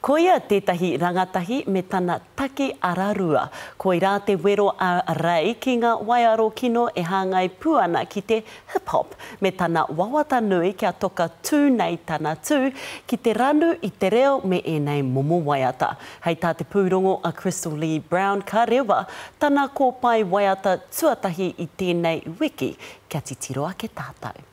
Koia tētahi rangatahi me tana taki ararua. Koirā te wero a Ray ki ngā waiaro kino e hāngai pū ana ki te hip hop, me tana wawata nui kia toka tū nei tana tū ki te ranu i te reo me ēnei momo waiata. Hei tā te pūrongo a Crystal Lee Brown ka rewa tana kōpae waiata tuatahi i tēnei wiki kia titiro ake tātou.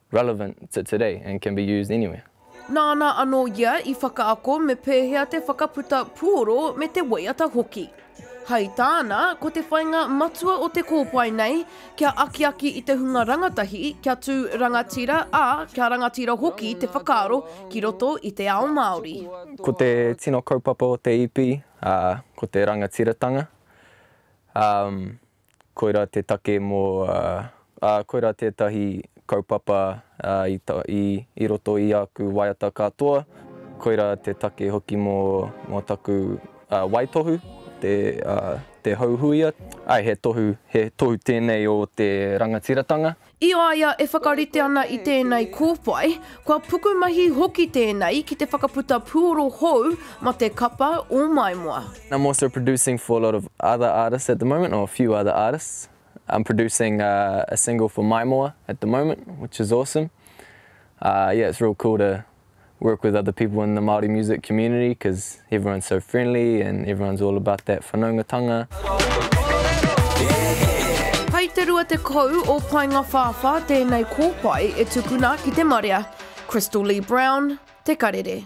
relevant to today and can be used anywhere. Nāna anō ia i whakaako me pēhea te whakaputa puoro me te waiata hoki. Hai tāna, ko te whainga matua o te kōpae nei, kia akiaki i te hunga rangatahi, kia tū rangatira, ā, kia rangatira hoki te whakaaro ki roto i te ao Māori. Ko te tino kaupapa o te EP, ko te rangatiratanga. Koirā te take mō, ā, koirā tētahi kaupapa i roto i āku waiata katoa. Koirā te take hoki mō taku waitohu, te houhuia. He tohu tēnei o te rangatiratanga. I a ia e whakarite ana i tēnei kōwhai, kua pukumahi hoki tēnei ki te whakaputa puoro hou ma te kapa o Maimoa. I'm also producing for a lot of other artists at the moment or a few other artists I'm producing a single for Maimoa at the moment which is awesome yeah it's real cool to work with other people in the Māori music community because everyone's so friendly and everyone's all about that whanaungatanga. Hai te 20 o Paengawhāwhā tēnei kōpae e tukuna ki te marea, Crystal Lee Brown, Te Karere.